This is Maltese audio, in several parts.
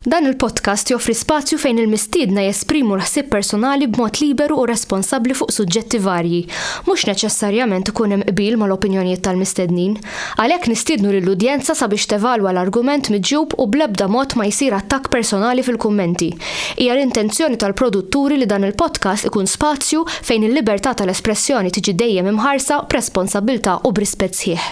Dan il-podcast joffri spazju fejn il-mistiedna jesprimu l-ħsieb personali b'mod liberu u responsabbli fuq suġġetti varji. Mhux neċessarjament ikun hemm qbil mal-opinjonijiet tal-mistednin. Għalhekk nistiednu lill-udjenza sabiex tevalwa l-argument miġjub u bl-ebda mod ma jsir attakk personali fil-kummenti. Hija l-intenzjoni tal-produtturi li dan il-podcast ikun spazju fejn il-libertà tal-espressjoni tiġi dejjem imħarsa b'responsabbiltà u b'rispett sħiħ.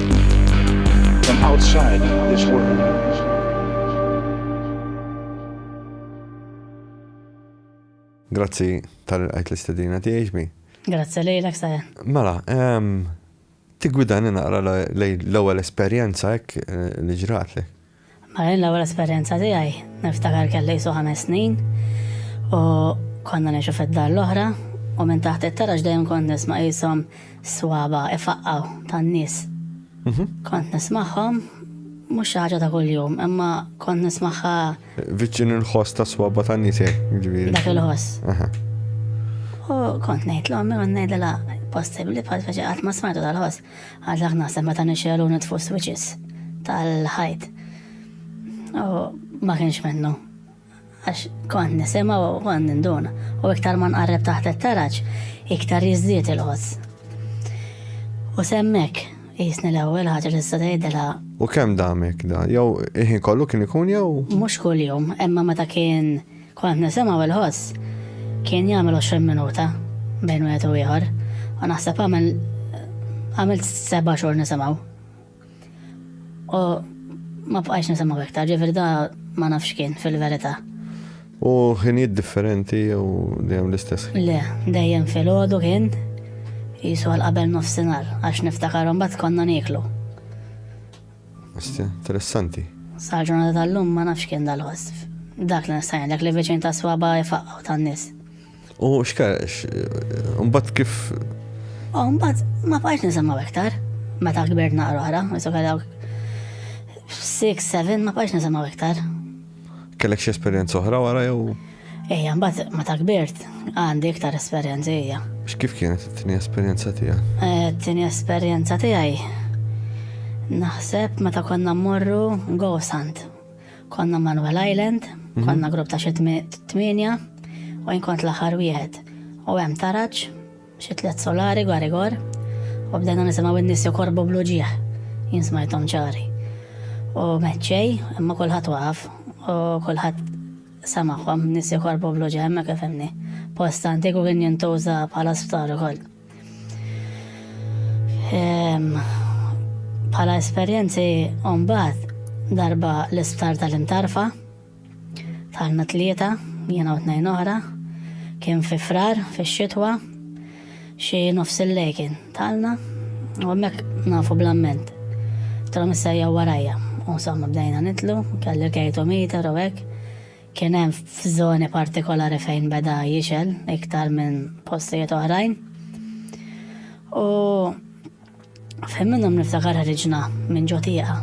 From outside this world. Grazzi tal-għajt l-istedina tiegħi ġbi. Grazzi lejlek saja. Mela, tigwidani naqra l-ewwel esperjenza hekk eh, li ġratlek. Mela jien l-ewwel esperjenza tiegħi niftakar kelli qisu ħames snin u konna ngħixu fid-dar l-oħra u minn taħt it-taraġ dejjem kont nisma' qishom swaba' ifaqqgħu tan-nies. Mhm. Kont nismagħhom mhux xi ħaġa ta' kuljum, imma kont nismagħha. Viċin il-ħoss ta' swaba ta' nisek, eh, ġifieri. Dak il-ħoss. U kont ngħid l-ommi u ngħidilha possibbli bħal faċi qatt ma smajtu tal-ħoss. Għad dak naħseb meta nixxelu nitfu switches tal-ħajt. U ma kienx minnu. Għax kont nisema u kont ninduna. U iktar ma nqarreb taħt it-taraġ, iktar jizdiet il-ħoss. U semmek, jisni l-ewwel ħaġa li s tgħidilha. U kemm damek da? Jew iħin kollu kien ikun jew? Mhux kuljum, imma meta kien Kont nisimgħu il-ħoss kien jagħmel 20 minuta bejn wieħed u ieħor u naħseb għamel għamilt seba' xhur nisimgħu. U ma bqajx nisimgħu iktar, ġifieri da ma nafx kien fil-verità. U ħinijiet differenti jew dejjem l-istess? Le, dejjem fil-ħodu kien jisu għal qabel nofsinhar għax niftakarom bat konna nieklu. Asti, interessanti. Sa ġurnata tal-lum ma nafx kien dal-wasf. Dak li nistajn, dak li veċin ta' swaba jfaqqaw tan nis. U xkar, mbatt kif? U mbatt ma bqajx nisimgħu iktar. Meta kbirt naqra oħra, jisu kellha 6, 7, ma bqajx nisimgħu iktar. Kellek xi esperjenza oħra wara jew? Ejja, mbagħad meta kbirt għandi iktar esperjenza ejja. X'kif kienet it-tieni esperjenza tiegħek? Eh, tieni esperjenza tiegħi naħseb meta konna mmorru Ghost Hunt. Konna Manuel Island, mhm. konna grupp ta' xi tmienja u jkont l-aħħar wieħed. U hemm taraġ Xi tliet solari gwa rigor u bdejna nisimgħu n-nies jokorbu bl-uġigħ. Jien smajthom ċari. U meċċej, imma kulħadd waqaf u kulħadd samagħhom nies jokorbu bl-uġigħ imma kif hemmni. Post antiku kien jintuża bħala sptar ukoll. Ehm, bħala esperjenzi mbagħad darba l-isptar tal-intarfa Tħallna tlieta, jiena u tnejn oħra. Kien fi Frar, fix-xitwa, xi nofs il-lejl kien. Tħallna u hemmhekk nafu bl-amment. Tilhom issa jew warajja. U insomma bdejna nitlu, kelli l-kejtometer u hekk. Kien hemm f'żoni partikolari fejn beda jixgħel iktar minn postijiet oħrajn. U. Fejn minnhom niftakar ħriġna minn ġo tieqa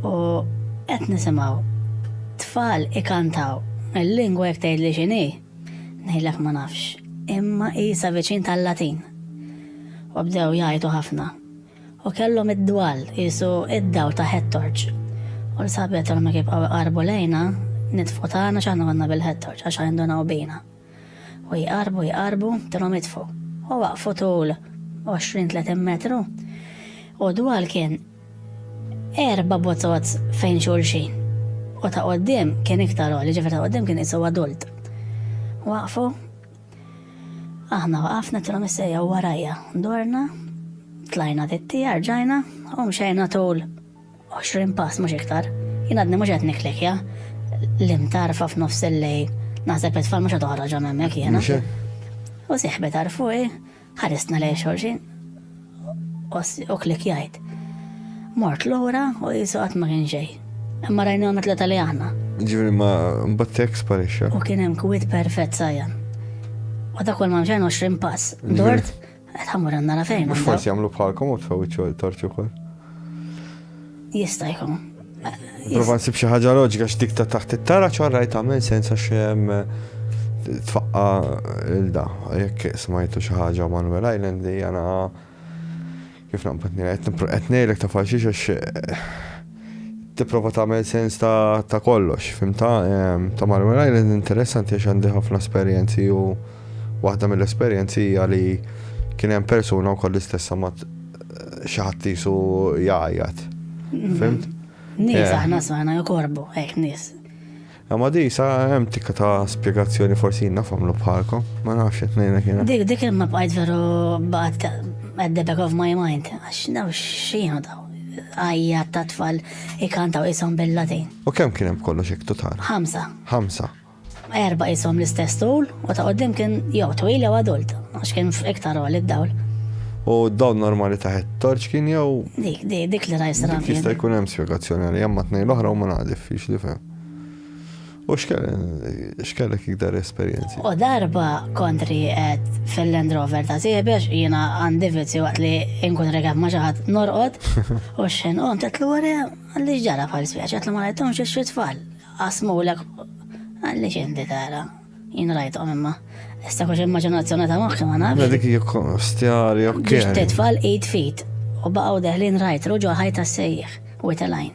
u qed nisimgħu tfal ikantaw il-lingwa jekk tgħidli x'inhi, ngħidlek ma nafx, imma qisha viċin tal-Latin. U bdew jgħidu ħafna. U kellhom id-dwal qisu id-dawl ta' ħettorġ. U l-sabet ma kif qarbu lejna nitfu tagħna x'aħna konna bil-ħettorġ għax għandu bina. U jqarrbu jqarrbu tilhom itfgħu. U waqfu tul 20-30 metru u dwal kien erba' botozz fejn xulxin. U ta' qoddim kien iktar għoli, ġifier ta' qoddim kien isu adult. Waqfu aħna waqafna tilhom issejja warajja. Dorna, tlajna tittija, rġajna u mxejna tul 20 pass mhux iktar. Jien għadni mhux qed niklikja l-imtarfa f'nofs il-lej. Naħseb it-tfal mhux qed oħroġ hemmhekk jiena. U siħbet għarfuqi, ħarisna lej xorxin u klikjajt. Mort lura u jisu qatt ma kien xejn. Imma rajna għamet l li aħna. Ġifieri ma mbattek sparixxa. U kien hemm kwit perfett sajjan. U dak ma mxejn 20 pass. Dort Għamur għanna la fejn. Mux forsi għamlu bħalkom u tfaw iċċu torċu kol. Jista jkun. Prova nsib xi ħaġa loġika x'dik ta' taħt it-tara ċorra jtagħmel sensa xem eh, tfaqqa il-da. Jekk smajtu xi ħaġa Manuel Island li jana kif naqbad nira qed ngħidlek ta' faxix għax eh, tipprova tagħmel sens ta' kollox, fimta? Ta' Marwell Island interessanti għax għandi ħafna esperjenzi u waħda mill-esperjenzi hija li kien hemm persuna wkoll l-istessa ma xi ħadd isu jgħajjat. Fimt? Nies aħna smajna jokorbu, hekk nies. Imma di sa hemm tikka ta' spjegazzjoni forsi jien naf għamlu bħalkom, ma nafx qed ngħidlek jiena. Dik dik imma bqajt veru baqgħet at the back of my mind għax daw x'jienu daw. Għajja ta' tfal ikantaw ishom bil-Latin. U kemm kien hemm kollox hekk total? Ħamsa. Ħamsa. Erba' ishom l-istess tul u ta' qudiem kien jew twil jew adult għax kien iktar għol id-dawl. U dawn normali taħet torċ kien jew. Dik dik dik li rajsra. Jista' jkun hemm spjegazzjoni għalija ma tnejn l-oħra u ma naqdif fix li fem. U x'kellek iktar esperjenzi? U darba kont rieqed fil-Land Rover ta' Siebex, jiena għandi vizju waqt li nkun rekat ma' xi ħadd norqod, u xejn qom tetlu wara għalli ġara bħal spiex, għatlu ma rajthomx xi tfal. Qasmulek għalli x'inti tara. Jien rajthom imma. Issa kux immaġinazzjoni ta' moħħi ma nafx. Dik hija stjari, ok. Ġiġt tfal 8 feet u baqgħu deħlin rajtru ġo ħajta sejjaħ u telajn.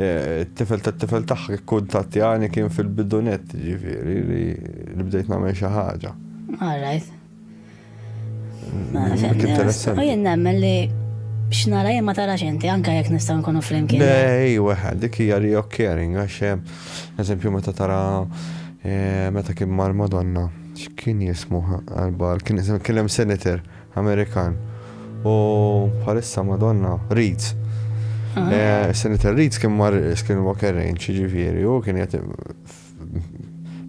It-tifel tat-tifel tagħha kkuntattjani kien fil-bidunet, ġifieri li bdejt nagħmel xi ħaġa. All right. U jien nemmen li x'nara jien ma tarax inti anke jekk nistgħu nkunu flimkien. Ej, weħed, dik hija reoccurring għax eżempju meta tara eh, meta kien mar Madonna, x'kien jismu għal kien hemm senator Amerikan. U bħalissa Madonna Reeds. Eh, Senator Reeds kien mar Skinwalker Range, ġifieri, u kien jgħati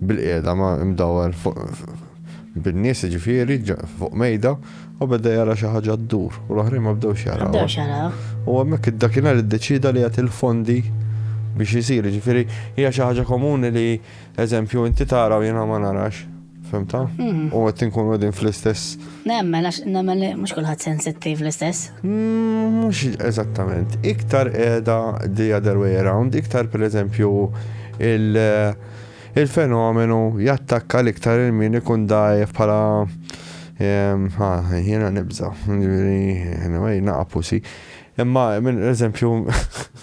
bil-qiegħda ma' imdawwar bin-nies ġifieri fuq mejda u beda jara xi ħaġa ddur u l-oħrajn ma bdew xara. Bdew xara. U hemmhekk id-dakinhar iddeċida li jagħti l-fondi biex isir, ġifieri hija xi ħaġa komuni li eżempju inti tara u jiena ma narax. Femta? Mhm. U għet nkun għadin fl-istess. Nemmen, għax nemmen li mux kullħat sensittiv l-istess. Mux mm, eżattament. Iktar edha the other way around, iktar per eżempju eh, il-fenomenu jattakka l-iktar il-min ikun dajf pala ehm, jena nibza, jena naqapusi. Imma, minn eżempju,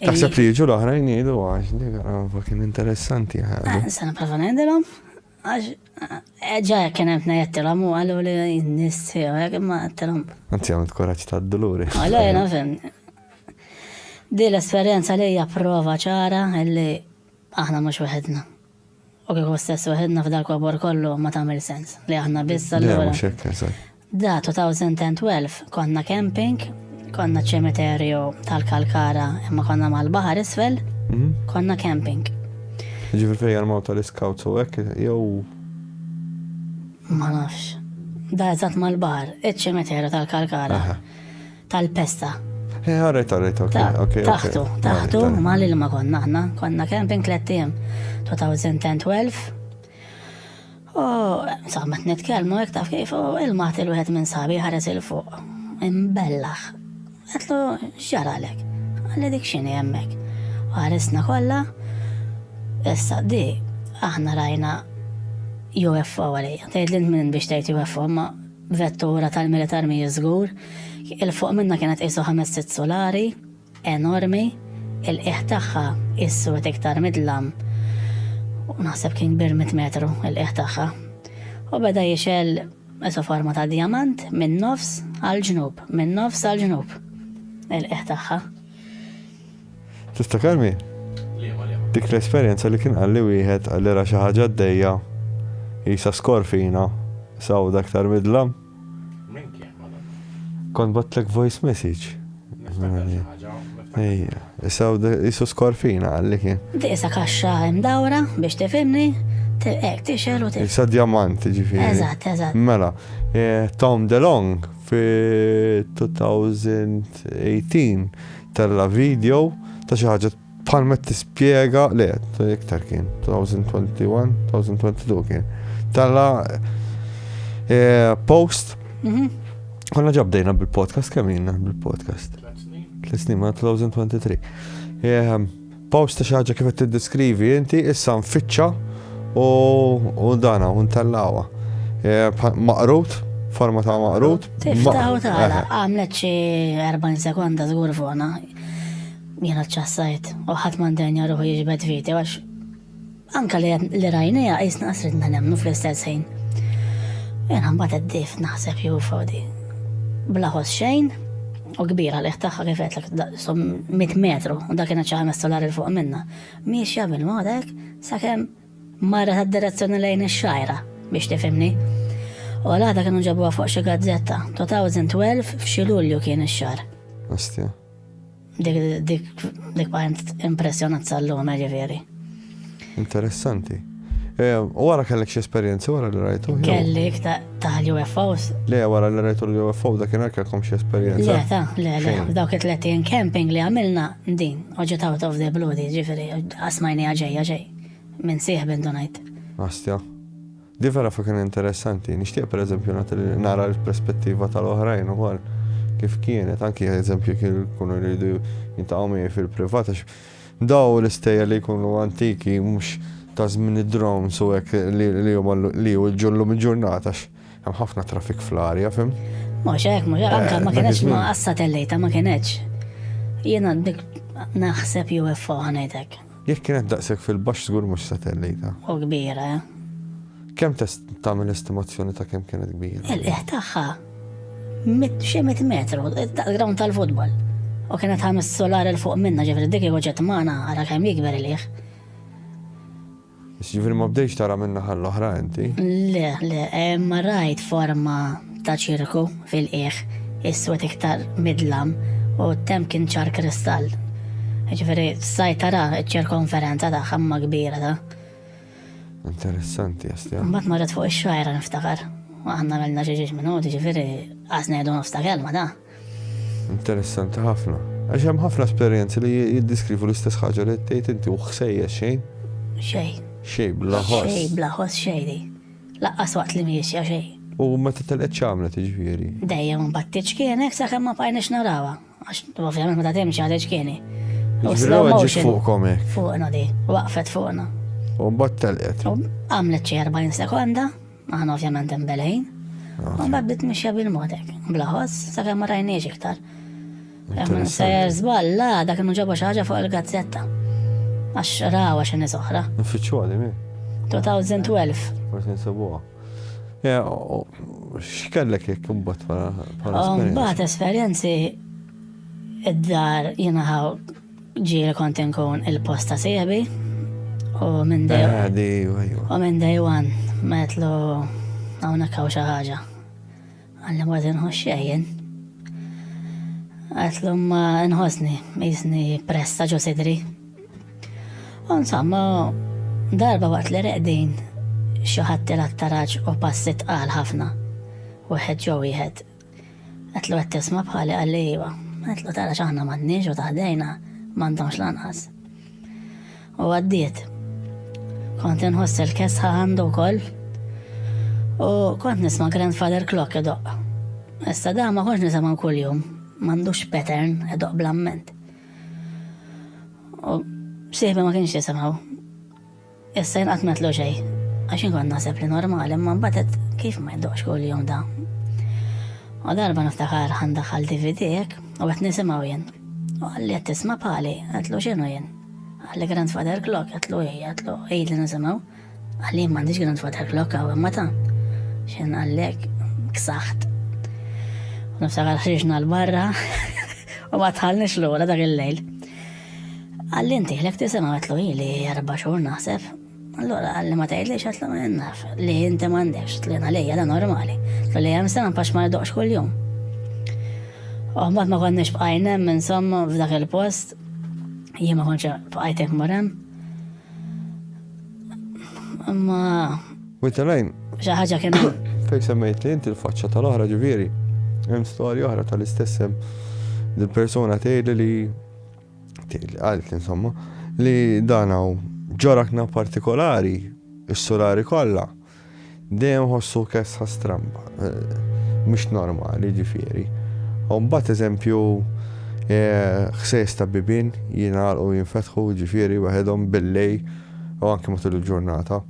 Taħseb li jiġu l-oħrajn jgħidu għax dik għarfa kien interessanti ħadu. Eh, se nipprova ngħidilhom għax eh, ġa kien hemm ngħidtilhom u qalu li n-nies tiegħu hekk imma għidtilhom. Anzi għamilt kuraġġ tad-duluri. Għallu jiena fim. Di l-esperjenza li hija prova ċara li aħna mhux weħedna. U kieku stess waħedna f'dal-kobor kollu ma tagħmel sens li aħna biss allura. Le mhux hekk, eżatt. Da 2012 konna camping, konna ċ-ċemiterju tal-Kalkara imma konna mal-baħar isfel, mhm. konna camping. Ġifieri fejn jarmaw tal-iskawt u hekk jew Ma nafx. Da eżatt mal-baħar, iċ-ċemiterju tal-Kalkara. tal-pesta. Eh, għarret, għarret, ok. Taħtu, taħtu, ma li ma konna ħna, konna camping tlettijiem 2012. U, saħmat nitkelmu, jek taf kif, u il-mat il-wħed minn sabi ħares il-fuq. Imbellax. Għetlu, xġaralek. Għalli dik xini jemmek. U ħaresna kolla, issa di, aħna rajna UFO għalija. Tgħid l minn biex tgħid UFO, ma Vettura tal-militar mhijiex żgur. Il fuq minnha kienet qisu ħames sitt sulari, enormi, il qiegħ tagħha qies sort iktar midlam u naħseb kien kbir mitt metru il qiegħ tagħha. U beda jixgħel qisu forma ta' djamant min-nofs għall-ġnub, min-nofs għall-ġnub il qiegħ tagħha. Tiftakarmi? Liema, liema? Dik l-esperjenza li kien qalli wieħed li ra xi ħaġa għaddejja qisha skorfina sawda aktar midla. Min kien madanni? Kont batlek voice message. Niftakar xi ħaġa, niftakar. Ejja, sawda qisu skorfina qalli kien. Tisa kaxxa imdawra biex tifhimni, hekk tixel u tixel. Sa djamant, ġifieri. Eżatt, eżatt. Mela, Tom DeLong fi 2018 Tella' video ta' xi ħaġa bħal ma tispjega le, iktar kien 2021, 2022 kien. Tella' eh, post. Mhm. Konna ġabdejna bil-podcast kemm bil-podcast. Tliet snin ma' 2023. Post ta' xi ħaġa kif qed tiddeskrivi inti, issa nfittxa u dana u ntellawha. Eh, maqrut, forma ta' maqrut. Tiftaħ u tagħlaq, eh. għamlet xi 40 sekonda żgur fuqna. Jiena ċċassajt u ħadd m'għandenja ruħu jiġbed viti għax Anka li li rajnija qisna qasridna nemnu fl-istess ħin. Jena mbagħad għaddif naħseb jew fodi. Blaħos xejn u kbira li ħtaħħa kif qedlek som 100 metru u dak kienet xi ħames solari fuq minna. Miexja minn modek sakemm marret għad-direzzjoni lejn ix-xajra biex tifimni. U l-għada kienu ġabuha fuq xi gazzetta, 2012 f'xi Lulju kien ix-xar. Astja. Dik dik bħajnt impressjonat sal-lum, ġifieri. Interessanti. Eh, u wara kellek xi esperjenzi wara li rajtu? Kelli taħ UFOs. Le, wara li rajtu l-UFO da kien kelkom xi esperjenzi. Le, ta, le, le, dawk it-30 camping li għamilna din, oġġet out of the blue di, ġifiri, asmajni għagġej, għagġej, minn siħ bin donajt. Astja. Din vera fa kien interessanti. Nixtieq per eżempju nagħti li nara l-perspettiva tal-oħrajn ukoll kif kienet, anki eżempju kien jkunu jridu jintaqgħu miegħi fil-privat għax daw l-istejjer li jkunu antiki mhux ta' żmien id-drones u hekk li huma li jwiġġu llum il-ġurnata għax hemm ħafna traffic fl-arja, fimt? Mhux hekk, mhux hekk, anke ma kienx ma qassat il-lejta ma kienx. Jiena dik naħseb UFO ħanejdek. Jekk kienet daqshekk fil-baxx żgur mhux satellita. U kbira. Kemm test tagħmel estimazzjoni ta' kemm kienet kbira? Il-qiegħ tagħha mit xi mit metru, daqs-ground tal-futbol. U kienet ħames solar il fuq minna ġifieri dik kieku ġiet magħna ara kemm jikber il-qiegħ. Issa jiġifieri ma bdejtx tara min-naħa l-oħra inti? Le, le, imma rajt forma ta' ċirku fil-qiegħ, iswed iktar mid-dlam, u t-temp kien ċar kristall. Jiġifieri stajt tara ċ-ċirkonferenza tagħha imma kbira ta'. Interessanti, Jastja. Mbagħad marret fuq ix-xajra niftakar. Aħna għamilna xi ġiex minuti, jiġifieri qas ngħidu nofs ta' kelma ta'. Interessanti ħafna. Għax hemm ħafna esperjenzi li jiddeskrivu l-istess ħaġa li tgħid inti u ħsejja xejn. Xejn. Xejn bla ħoss. Xejn bla ħoss xejn. Laqqas waqt li miexja xejn. U meta telqet ċamlet iġifieri. Dejjem mbagħad tiċkienek sakemm ma bqajniex narawha. Għax ovvjament meta timxi għad iċkieni. U slow motion. Fuqkom hekk. Fuqna di, waqfet fuqna. U mbagħad telqet. Għamlet xi 40 sekonda. Aħna ovvjament imbelejn. U mbagħad bdiet mixja bil-modek, bla ħoss, sakemm ma rajniex iktar. Minn sejjer żball, la, dak kienu ġabu xi ħaġa fuq il-gazzetta. Għax rawa xi nies oħra. Nfittxu għadim, 2012. Forsi nsibuha. X'kellek jekk imbagħad bħala. Mbagħad esperjenzi id-dar jingħaw Ġieli kont inkun il-post ta' sieħbi u minn day Ah, di, ajwa. u minn day one metlu hawnhekk hawn xi ħaġa. Għalli ma tinħoss xejn. Għetlu ma nħossni, jisni pressa ġo sidri. U insomma, darba waqt li reqdin, xi ħadd il-attaraġ u passi tqal ħafna. Wieħed ġo wieħed. Għedtlu qed tisma' bħali qalli iva. Għedtlu tara x'aħna m'għandniex u ta' ħdejna m'għandhomx lanqas. U għaddiet. Kont inħoss il-kesħa għandu wkoll u kont nisma' grandfather clock idoqq. Issa da ma kontx nisimgħu kuljum, m'għandux pattern idoqq bl-amment. U sieħbi ma kienx jisimgħu. Issa jien qatt ma tlu xejn, għax inkun naħseb li normal, imma mbagħad kif ma jdoqx kuljum da. U darba niftakar ħandaħal DVD hekk u qed nisimgħu jien. U għalli qed tisma' pali, għatlu x'inhu jien. Għalli grandfather clock, għatlu hi, għatlu hi li nisimgħu. Għalli jien m'għandix grandfather clock għaw imma ta' x'in għallek ksaħt. U niftakar ħriġna l-barra u ma tħallniex lura dak il-lejl. Għalli inti ħlek tisema għatlu li erba xhur naħseb. Allora għalli ma tgħidli xatlu ma jennaf li inti m'għandekx tlu jena lejja da normali. Tlu li hemm sena pax ma jdoqx kuljum. Oħmat ma konniex bqajnem insomma f'dak il-post jien ma konċa bqajtek morem. Imma. Wait a line. Xi ħaġa kien. Fejn semmejt li inti l-faċċa tal-oħra ġifieri. Hemm storja oħra tal-istess hemm dil-persuna tgħidli li Għalt, insomma, li dan hawn ġorakna partikolari, is-surari kollha, dejjem ħossu kesħa stramba, eh, mhux normali ġifieri. U mbagħad eżempju eh, ħsejs ta' bibin jingħalqu jinfetħu ġifieri waħedhom billej u anke matul il-ġurnata.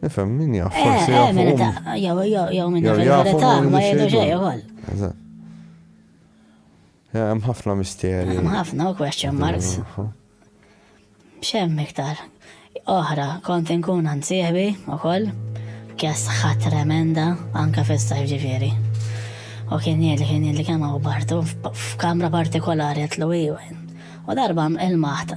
Nifhem, min jaf, eh, forsi jaf. Min ta' jew jew jew min jaf il-verità ma jgħidu xejn ukoll. Hemm ħafna misteri. Hemm ħafna u question marks. X'hemm iktar. Oħra, kont inkun ansieħbi ukoll, kjas ħadd tremenda anke fis-sajf ġifieri. U kien jgħid li kien jgħid li kemm bartu f'kamra partikolari għatlu U darba il-maħta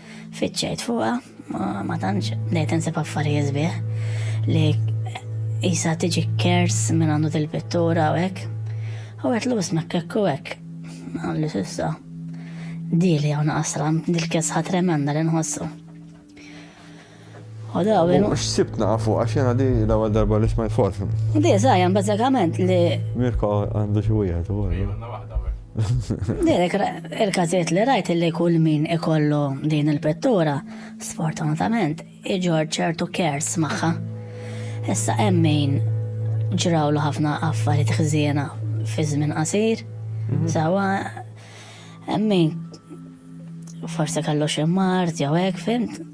Fiċċejt fuqha, ma tantx bdejt insib affarijiet sbieħ li jisa tiġi kers minn għandu dil-pittura u hekk. U għet l-us mekkekku hekk. Għalli sissa. Dili għaw naqasra, dil-kesħa tremenda li nħossu. U x'sibt nafu għax jena di l-ewwel darba li smajt forsi. Di żgħajjan bażikament li. Mirko għandu xi wieħed u Direk, il-każijiet li rajt li kull min ikollu din il-pittura, sfortunatament, iġor ċertu kers magħha. Issa hemm min ġrawlu ħafna affarijiet ħżiena fi żmien qasir, mhm. sawa hemm min forse kellu xi mart jew hekk fimt.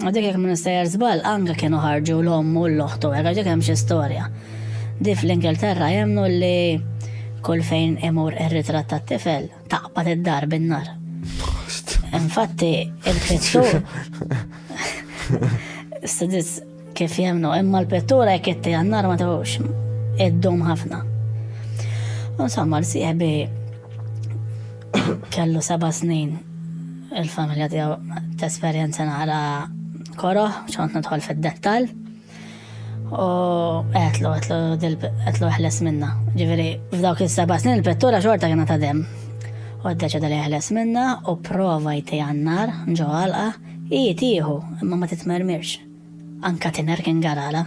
Dik jekk minn sejjer żball anke kienu ħarġu l-omm u l-oħtu, hekk dik hemm xi storja. Di fl-Ingilterra jemnu li kull fejn imur ir-ritratt tat-tifel taqbad id-dar bin-nar. Infatti, il-pittur. Studis kif jemnu, imma l-pittura jekk itti għannar ma tawx id-dum ħafna. Insomma, l-sieħbi Kellu seba' snin il-familja tiegħu tesperjenza naqra koroh, xont nidħol fid-dettall. U għetlu, għetlu, għetlu ħles minna. Ġiviri, f'dawk il-seba snin il-pettura xorta kena ta' dem. U d-deċeda li ħles minna u prova jti għannar, ġo għalqa, i tiħu, imma ma titmermirx. Anka tiner kien garala.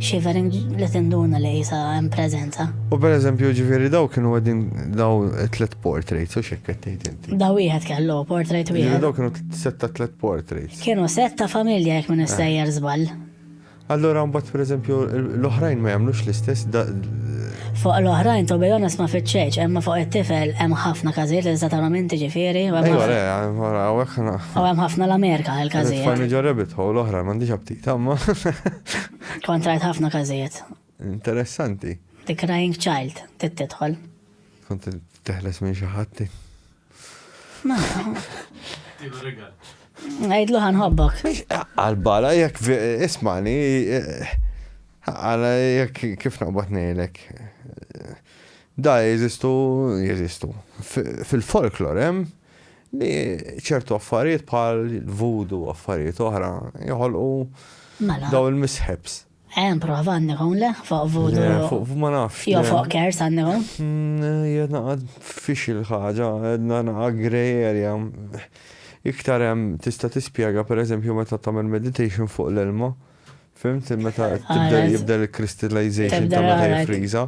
Shivering li tinduna li jisa hemm preżenza. U per eżempju ġifieri daw kienu għedin daw tlet portraits u xekk qed tgħid inti. Daw wieħed kellu portrait wieħed. Daw kienu setta tlet portraits. Kienu setta familja jekk minn sejjer żball. Allora mbagħad per eżempju l-oħrajn ma jagħmlux l-istess Fuq l-oħrajn to be honest ma fitxejx, imma fuq it-tifel hemm ħafna każijiet li tista' tagħmel inti ġifieri. Ejwa, ejwa, hawnhekk. U hemm ħafna l-Amerika l-każijiet. Familja rabbit hole oħra m'għandix Tamma. Kont rajt ħafna każijiet. Interessanti. The Crying Child, tittidħol. Kont teħles minn xi ħadd. Ma. Għajdlu ħanħobbok. Għal-bala jek ismani, eh, għala jek kif naqbat nejlek. Da jeżistu, jeżistu. Fil-folklor hemm li ċertu affarijiet bħal voodoo affarijiet oħra joħolqu mela. daw il-mishaps. Hemm prova għandek hawn le fuq voodoo. Le, fuq ma nafx. Jo fuq kers għandek hawn. Mm, Jedna għad fix il-ħaġa, għedna naqa grey area. Iktar hemm tista' tispjega pereżempju meta tagħmel meditation fuq l-ilma. Fimt meta tibda jibda l-crystallization ta' meta jifriża.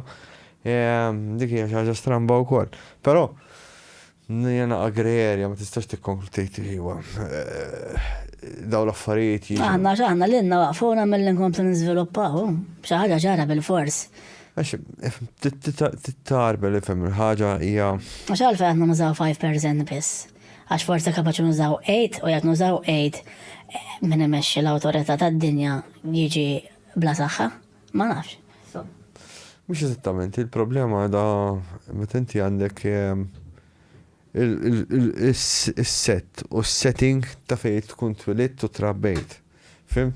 Dik hija xi ħaġa stramba wkoll. Però Nirjana Agrerja ma tistax tikkonklu tgħid li huwa dawn l-affarijiet jiġu. Aħna x'aħna lilna waqfuna milli nkomplu niżviluppaw, xi ħaġa ċara bilfors. Għax tittarbel ifhem il-ħaġa hija. Għax għalfejn aħna nużaw five percent biss? Għax forsi kapaċi nużaw eight u jekk nużaw eight min imexxi l-awtorità tad-dinja jiġi bla saħħa? Ma nafx. Mhux eżattament, il-problema da meta inti għandek ehm, is-set u s-setting ta' fejn tkun twilidt u trabbejt. Fim?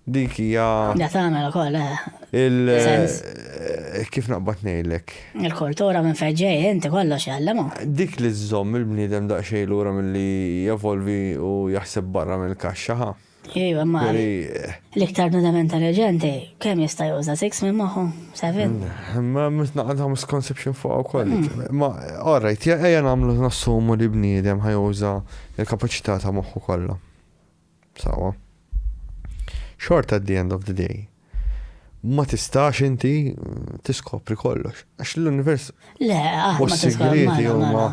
Dik hija. Da tagħmel ukoll, eh. Il eh, kif naqbad ngħidlek? Il-kultura minn fejn ġej inti kollox jgħallimu. Dik li żżomm il-bniedem daqsxejn lura milli jevolvi u jaħseb barra mill-kaxxa ħa. Iva, ma l-iktar nudament ta' reġenti, kem jista' juża 6 minn maħu, 7? Mm, ma mitna għandha misconception fuq u koll. Mm. Ma, alright, ejja namlu nassumu li bniedem ħajuża il-kapacità ta' moħħu kollha. Sawa. Short at the end of the day. Ma tistax inti tiskopri kollox. Għax l-univers. Le, aħna ma tiskopri. huma.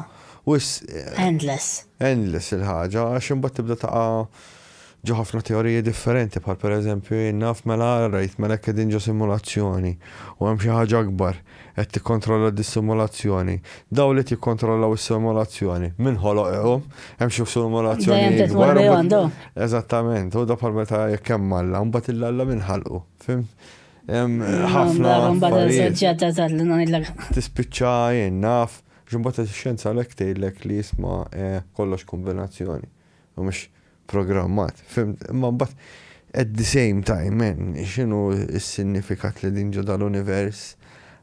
Eh, endless. Endless il-ħaġa, għax imbagħad tibda taqa' ġo ħafna teoriji differenti, bħal pereżempju naf mela rajt mela qegħdin ġo simulazzjoni u hemm xi ħaġa akbar. qed tikkontrolla dis-simulazzjoni, dawl qed jikkontrollaw is-simulazzjoni, min ħoloq hu, hemm xi simulazzjonijiet kbar. Eżattament, hu bħal meta jekk hemm Alla, mbagħad il-Alla min ħalqu, fimt? Hemm ħafna. Tispiċċa jien naf, ġimbagħad ix-xjenza għalhekk tgħidlek li jisma' kollox kombinazzjoni. U mhux programmat, fimt, imma mbagħad at the same time man, x'inhu s-sinnifikat li din ġo dal-univers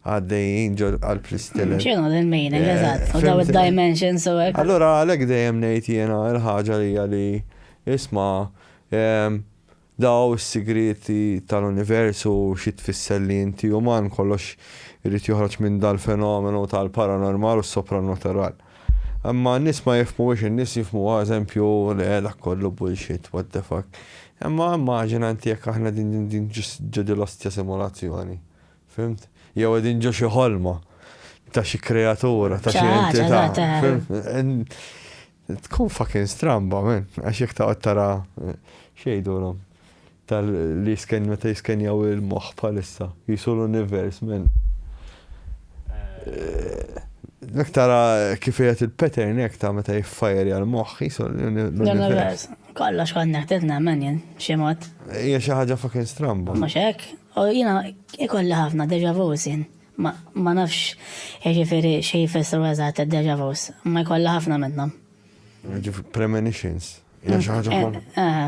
għaddejjin ġo qalb l-istilel. X'inhu din meaning, eh, eżatt, u daw id-dimensions u hekk. Allura għalhekk dejjem ngħid jiena l-ħaġa li hija li isma' ehm, Daw is-sigrieti tal-univers u xi tfisser li inti uman, kollox irid joħroġ minn dal-fenomenu tal-paranormal u s-sopranoteral. Imma n-nies ma jifhmuhiex, in-nies jifhmuha eżempju, le dak kollu bullshit, what the fuck. Imma immaġina inti jekk aħna qegħdin ġo dil-ostja simulazzjoni, fhimt? Jew qegħdin ġo xi ħolma ta' xi kreatura, ta' xi entità, fhimt? Tkun fucking stramba man, għax jekk taqgħod tara x'jgħidulhom tal li jisken meta jiskenjaw il-moħħ bħalissa, qisu l-univers man. Jekk tara kif qiegħed il-pattern hekk ta' meta jiffajerja l-moħħ qisu l-univers. Kollox kont neħtieġ nemmen jien, b'xi mod. Hija xi ħaġa fucking stramba. Mhux hekk? U jiena ikolli ħafna déjà vu sin. Ma nafx jiġifieri xi jfissru eżatt id-déjà vus, imma jkollha ħafna minnhom. Jiġifieri premonitions. Hija xi ħaġa kom.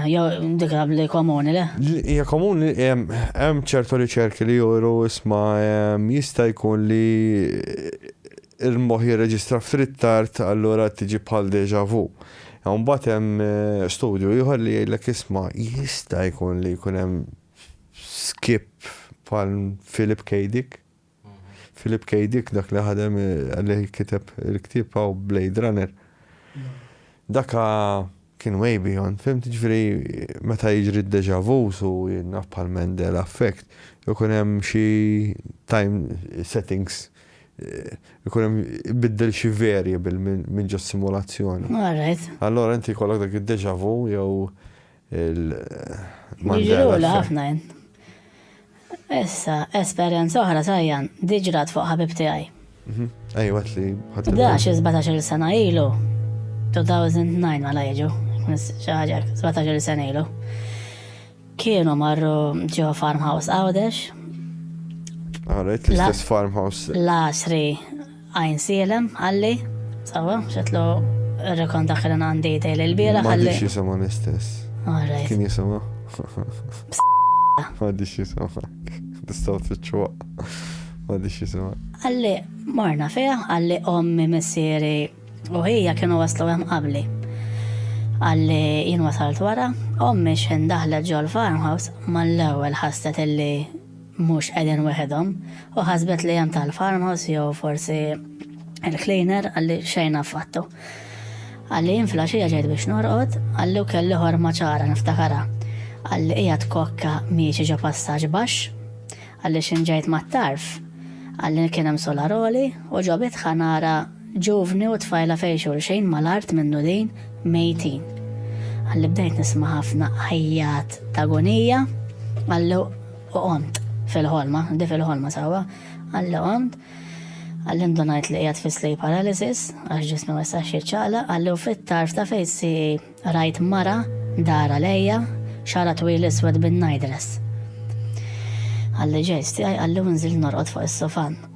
Jew dik li komuni le? Hija komuni hemm ċertu riċerki li juru isma' jista' jkun li l-moħħ jirreġistra f'rittard allura tiġi bħal déjà vu. Imbagħad hemm studju ieħor li jgħidlek isma' jista' jkun li jkun hemm skip bħal Philip K. Dick. Philip K. Dick dak li ħadem li kiteb il-ktieb hawn Blade Runner. Daka kien way beyond, fim tiġri meta jiġri d-deja vu su jinnaf bħal Mandela effect, ikun hemm xi time settings ikun hemm biddel xi variable minn ġo simulazzjoni. Allora inti jkollok dak id-deja vu jew Jiġrula ħafna jien. Issa, esperjenza oħra sajjan, diġrat fuq ħabib tiegħi. Ejwa li ħadd. Dax 17 sena ilu. 2009 mela jiġu. Xi ħaġa 17 sena ilu. Kienu marru ġo farmhouse Għawdex. Għarajt l-istess farmhouse. Lasri Għajnsielem, qalli, sawa, xetlu rekon dak li għandi dejli l-bira. Għalli xisama l-istess. Alright. Kien jisama? Għaddi xisama. Tistaw t-ċuwa. Għaddi xisama. Għalli, marna fija, għalli ommi messiri u hija kienu waslu għem qabli. Għalli jien wasalt wara, ommi xen daħla ġol farmhouse mal-ewel ħasset illi mhux qegħdin weħidhom, u ħasbet li hemm tal-farmhouse jew forsi il-cleaner qalli xejn affattu. Qalli jien filgħaxija ġejt biex norqod, qalli u kelli ħorma ċara niftakarha. Qalli qiegħed kokka miexi ġo passaġġ baxx, qalli x'in ġejt mat-tarf. Qalli kien hemm solaroli u ġo bitħa nara ġuvni u tfajla fejn xulxin mal-art minnu din mejtin. Qalli bdejt nisma' ħafna għajjat ta' gonija, qalli U qomt, fil-ħolma, di fil-ħolma sewwa, qalli qomt, qalli ndunajt li qiegħed fi sleep paralysis, għax ġismi ma jistax jiċċaqlaq, qalli u fit-tarf ta' fejsi rajt mara dar għalejja, xara twil iswed bin-night dress. Qalli ġejst tiegħi qalli u nżilt norqod fuq is-sofan.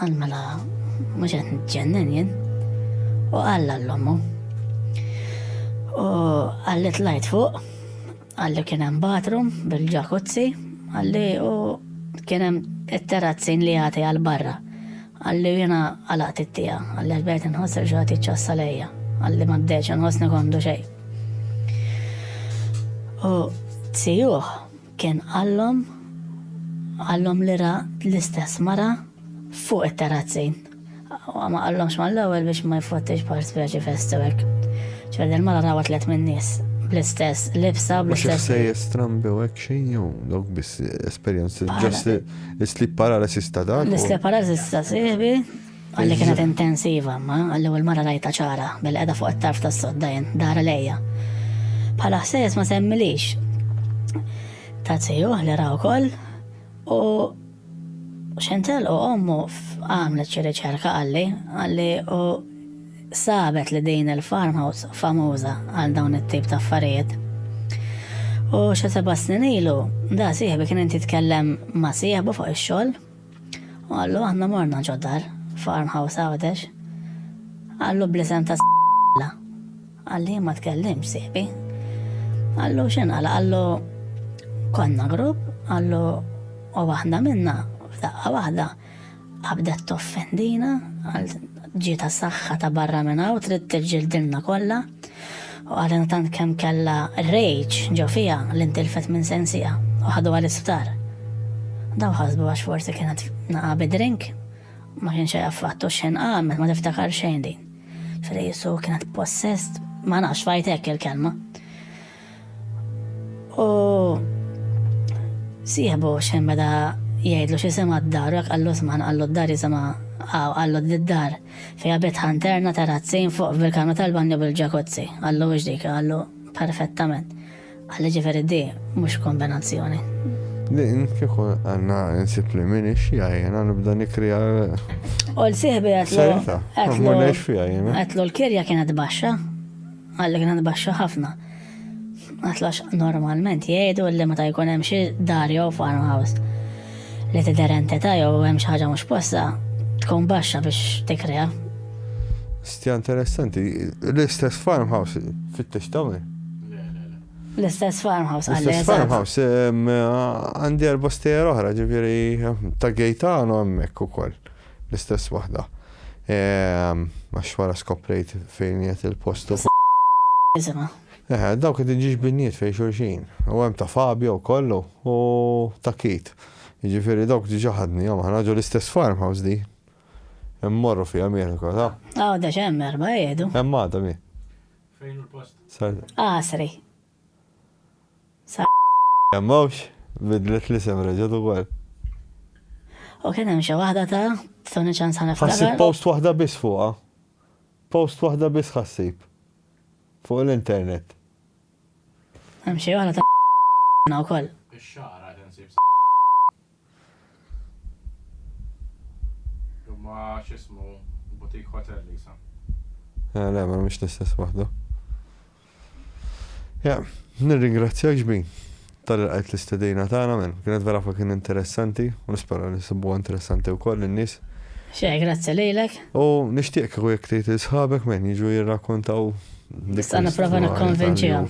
Għal mela mhux qed nitġennen jien. U qal l-ommu. U għalli tlajt fuq, għalli kien hemm bathroom bil-ġakuzzi, għalli u kien hemm it-terrazzin li jagħti għal barra. Għalli jiena għalaqt it-tija, għalli bdejt inħoss li xogħol jiċċassa lejja, għalli ma bdejtx inħossni kondu xejn. U tsijuħ Kien qallhom, qallhom li ra l-istess mara fuq it-terrazzi. Ma qallhomx mal-ewwel biex ma jfottix bħal speċi festiwerk. Ċoħe din il-mara rawa tliet min-nies bl-istess libsa, bl-istess. U xi ħsejjes strambi u hekk xejn jew dawk biss esperjenzi ġast l-sleep paralysis ta' dak? L-sleep paralysis ta' sieħbi. Qalli kienet intensiva, ma għall-ewwel mara rajta ċara, billi qiegħda fuq it-tarf tas-sodda jien, dara lejja. Bħala ħsejjes ma semmilix. Ta' tijuh li raw kol, u xentel u ommu għamlet xi riċerka għalli, għalli u sabet li din il-farmhouse famuża għal dawn it-tip ta' affarijiet. U xa seba snin ilu, da sieħbi kien inti tkellem ma sieħbu fuq ix-xogħol U qallu aħna morna ġo dar, farmhouse Għawdex. Qallu bl-isem ta' Alla. Qalli jien ma tkellimx sieħbi. Qallu x'inqala? Qallu konna grupp, qallu u waħda minna f'daqqa waħda qabdet toffendina, Ġietha saħħa ta' barra minn hawn trid tiġġildilna kollha u qalilna tant kemm kellha r-rage ġo fiha li ntilfet minn sensiha u ħaduha l-isptar. Dawn ħasbu għax forsi kienet naqa' bi drink. Ma kienx hekk affattu u xejn qamet ma tiftakar xejn din. Ġifieri qisu kienet possessed, ma nafx f'għid hekk il-kelma. U sieħbu xem meta jgħidlu xi sema d-dar, jekk qallu sman qallu d-dar jisema għaw qallu d-dar fija bitħa interna terrazzin fuq bil-kamra tal-banju bil-ġakuzzi. Qallu wix dik, qallu perfettament. Għalli ġiferi di mux kombinazzjoni. Din kieku għanna nsib li minni xija jena nibda nikrija. U l-sihbi għatlu. Għatlu l-kirja kienet baxa. Qal li kienet baxxa ħafna. Qatlu għax normalment jgħidu li meta jkun hemm xi dar jew farmhouse li tidher entità jew hemm xi ħaġa mhux posta tkun baxxa biex tikrea. Stja interessanti, l-istess farmhouse fit-tix tawni. L-istess farmhouse għalli. L-istess farmhouse għandi erba stejer oħra ġifiri ta' gejtano għammek u koll. L-istess waħda. Għax wara skoprejt fejn qiegħed il-post u. Isimha. Eħe, dawk qegħdin ġiġbinijiet fejn xulxin. U hemm ta' Fabio wkoll u ta' Keith. Jiġifieri dawk diġà ħadnihom aħna ġo l-istess farmhouse di. Immorru fiha miegħek ukoll, ha? Għada x'hemm erba' qiegħdu. Hemm għada mi? Fejn hu l-post? Sar. Għasri. Sa. Għamawx, bidlet l-isem reġgħet ukoll. U kien hemm xi waħda ta' Tony Chan sa niftakar. Ħassib post waħda biss fuqha. Post waħda biss ħassib. Fuq l-internet. Hemm xi waħda ta' wkoll. Ix-xagħar għad insib sa. Ma x'ismu butik hotel li sa. Eh, le, ma mhix l-istess waħda. Ja, nirringrazzjak ġbin tal qajt l-istedina tagħna minn kienet vera fuq kien interessanti u nispera li sibuha interessanti wkoll in-nies. Xej, grazzi lilek. U nixtieq kieku jekk tgħid li sħabek men jiġu jirrakkontaw Nista' nipprova nikkonvinċihom.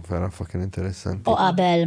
Vera fucking interessanti. U qabel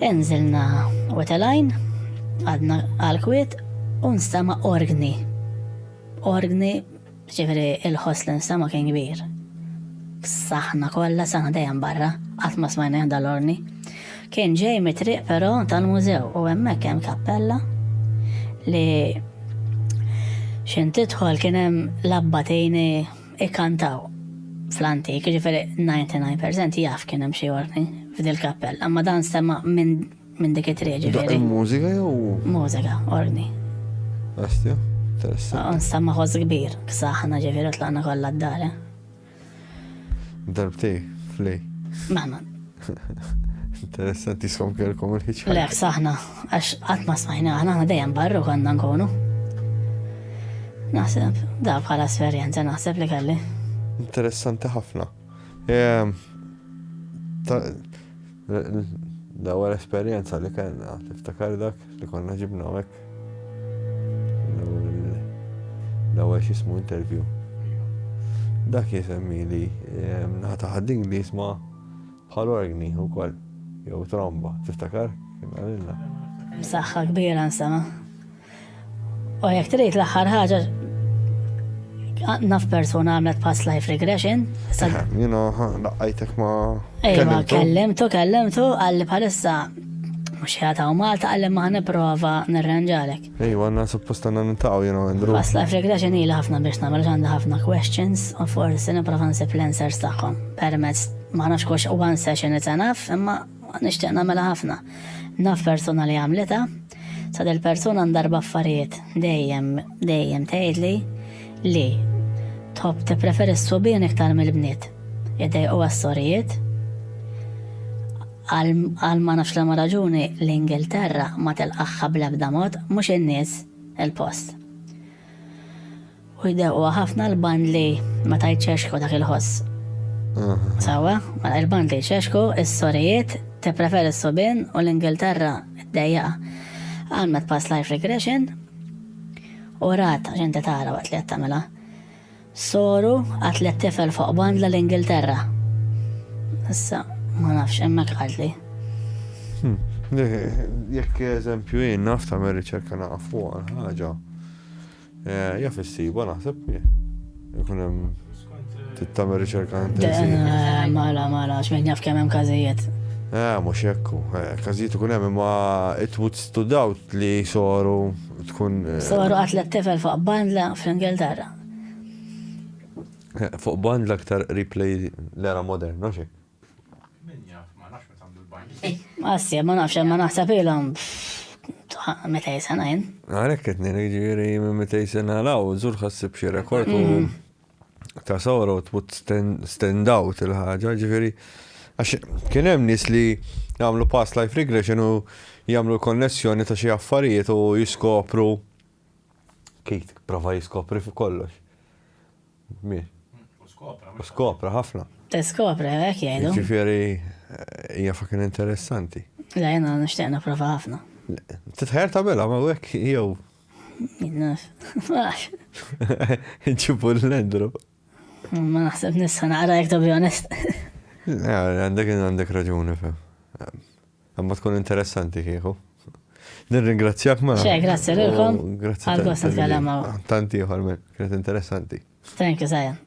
Inżilna wetelajn, għadna għal-kwiet u nstama orgni. Orgni, ġifiri il-ħoss li nstama kien kbir. Saħna kollha saħna dejjem barra, qatt ma smajna jahda l-orni. Kien ġej mitriq però tal-mużew u hemmhekk hemm kappella li xintidħol kien hemm labbatini ikkantaw fl-antik, jiġifieri 99% jaf kien hemm xi orgni f'dil kappell, imma dan sema' minn minn dik it-triq ġifieri. Mużika jew? Mużika, orgni. Astja, interessant. Nstamma ħoss kbir, ksaħna ġifieri tlaqna kollha d-dar. Eh? Darbtej, flej. Mama, Interessanti skom kelkom il-ħiċ. Le, saħna, għax qatt ma smajna aħna aħna dejjem barru konna nkunu. Naħseb, da bħala esperjenza naħseb li kelli. Interessanti ħafna. Ehm, L-ewwel esperjenza li kellna, tiftakar dak li konna ġibna hekk. L-ewwel x'ismu interview. Dak jisemmi li ehm, nata ħaddin li jisma' Bħal orgni wkoll, jew tromba, tiftakar? Kien qalilna. Msaħħa kbira nsema. U jekk trid l-aħħar ħaġa naf persuna għamlet past life regression. You know, daqqajtek ma. Ejma, kellimtu, kellimtu, għalli bħalissa mux jgħata u Malta għalli maħna prova nirranġalek. Ejwa, għanna suppost għanna nintaqaw jena għandru. Past life regression ili ħafna biex namel għandi ħafna questions u forsi niprofa nsib l-answers tagħhom. Permezz ma nafx kux one session it's enough, imma nixtieq nagħmilha ħafna. Naf persuna li għamlita, sa del persuna ndarba affarijiet dejjem dejjem tgħidli li tħobb tippreferi s-subien iktar mill-bniet. Idej u għas-sorijiet, Għal ma nafx liema raġuni l-Ingilterra ma tilqagħha bl-ebda mod, mhux in-nies, il-post. U jdewquha ħafna l-bandli meta jċexxku dak il-ħoss. Sewwa, mela l-bandli jċexxku, is-sorijiet tippreferi s-subien u l-Ingilterra ddejjaqha. Għamlet past life regression u rat x'inti tara waqt li qed tagħmilha. Soru qal tliet tifel fuq bandla l-Ingilterra. Issa, ma nafx, hemmhekk qalt li. Hmm. Jekk eżempju jien naf ta' riċerka naqaf fuq ħaġa. Eh, jaf issiba naħseb jkun hemm tittamel riċerka intensiva. Eh, mala, mala, x'min jaf kemm hemm każijiet. Eh, mhux hekku. Eh, każijiet ikun hemm imma it would stood out li soru tkun. Soru qatlet tifel fuq bandla fl-Ingilterra. Fuq band l-aktar qrib lej l-era moderna xi. Min jaf, ma nafx meta għamlu l-bajli. Assi, ma nafx, ma naħseb ilhom meta jisena jien. Għalhekk qed ngħid jiġifieri minn meta jisena law, żur ħassib xi rekord u ta' sawra u tmut stand out il-ħaġa, ġifieri għax kien hemm nies li jagħmlu past life regression u jagħmlu l-konnessjoni ta' xi affarijiet u jiskopru Keith prova jiskopri fuq kollox. Mir. U skopra. U skopra ħafna. Tiskopri, hekk jgħidu. Ġifieri hija fucking interessanti. Le, jiena nixtieq nipprova ħafna. Titħajjar tagħmilha ma hekk jew. Naf. Ġibu l-lendru. Ma naħseb nista' naqra jekk to be honest. Għandek għandek raġuni fem. Imma tkun interessanti kieku. Nirringrazzjak ma. Xe, grazzi lilkom. Grazzi. Għal-gost nitkellem Tant ieħor, kienet interessanti. Thank you, Zajan.